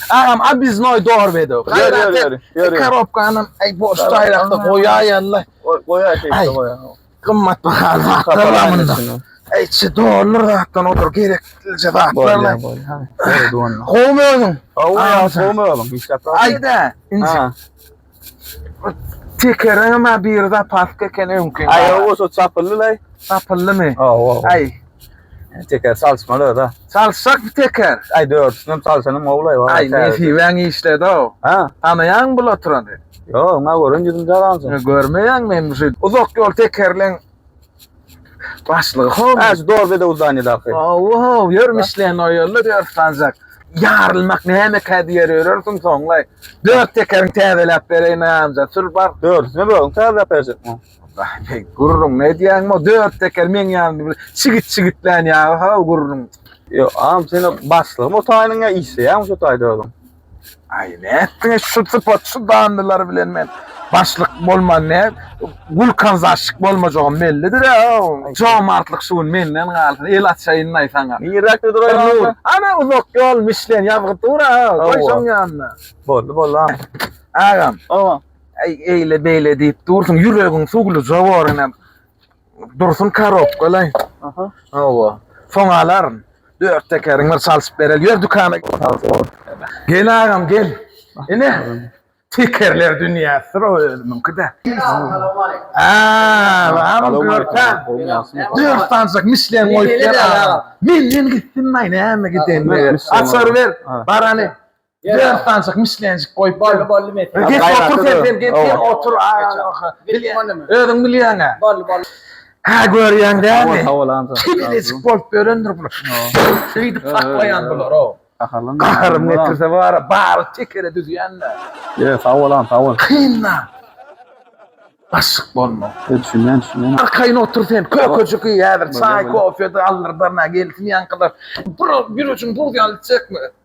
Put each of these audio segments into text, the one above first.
Agam abiznoy dorbedo. Gaýrat et. Korobkany aý boş taýlakda goýaý Allah. Goýaý şeýle goýaý. Gymmat bahaly zatlar bar munda. Aý çi dollar zatdan odur gerek dilje zatlar. Gowy özüň. Gowy özüň. Aýda. Inşallah. Tekereň hem ha biri zapaska eken öňki. Aý o bolsa çapyldy laý. Çapyldymy? Hawa. Aý. Teker çalyşmaly da. Çalyşak bir teker. Aý dördüsini hem çalyşanym gowy laý. Aý nesibäň işledi-ow. Ha. Tanaýaňmy bul oturany? Ýok, maňa gören ýüzüm jalansyň. Görmeýäňmi hem şu uzak ýol tekerleň Başlygy howun. Äj dor bedew zanydaky. Ow, ýörüm işleýän o ýolda ýör sanjak. Ýarylmak nämekä diýer ýörersiň soňlaý. Dört tekeriň täzeläp bereýin aýamjan, sür bar. Dördüsini özüň täzeläp berjekmiň? Baý, gürrüň edýäňmi o dört teker meň ýanymda bir çigit-çigitlän ýaly-haw gürrüň. Ýo, am, sen o başlygymy o taýynyň ýa işleýäňmi şo taýda özüň? Aý nätdiň şu sypat şu dandylar bilen men başlyk bolman ne gulkan zaşşyk bolmajagym bellidir a jomartlyk şu gün menden galsyn el açaýynlaý saňa niräkde duraýaň ana uzak ýol mişlen ýazgy dur a goý şoň ýanyna boldy boldy agam owa eýle beýle diýip dursuň ýüregiň suwluja bor inem Dursun korobka laý. Aha. Hawa. Soň alaryn. Dört tekeriň bir çalşyp bereli. Ýör dükana. Gel agam gel. Ine. Tekerler dünýäsidir o özümiňki-de. Aa, agam görkä. Dört sanjak mişlen goýup ber agam. Men men gitdim laý näme gidende. Açar ber. Barany. Dört sanjyk mişlenjik goýup bolly bolly met. Geç otur sen sen geç sen otur. Özüň bilýäň-ä. Bolly bolly. Hä görýäň dämi? Sag bol Anna. Kibirecik bolup ýörendir bular. Şeýdip saklaýan bular o. Gaharlan. Gaharym getirse bar-a bary tekere düzýän-dä. Ýe sag bol Anna sag bol. Kynma. Başyk bolma. Düşünýän düşünýän. Arkaýyn otur sen kökejik iý häzir çaý kofe-de aldyrdar nä gelsin ýaňkylar. Bura ýürejin buz ýaly çekme.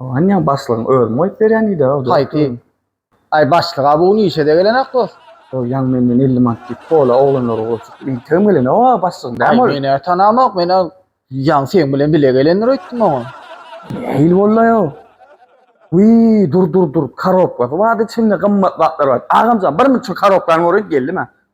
Oňa başlygyň özümi goýup berýän diýdi-ä o. Haýsy? Aý, başlyga bu gün işe-de gelenok dost. Ol ýaňy menden elli manat diýip pola oglanlary gurjukdy. Entegem gelenok-a başlygyň, näme ol? Aý, men-ä tanamok, men-ä ýaňy seň bilen bile gelendir öýtdüm oňa. Nähili boldy-aý-o? Wiý, dur, dur, dur, korobkasy bardy içinde, gymmat zatlar bardy. Agamjan, bir müň şu korobkany göreliň, geldim-ä.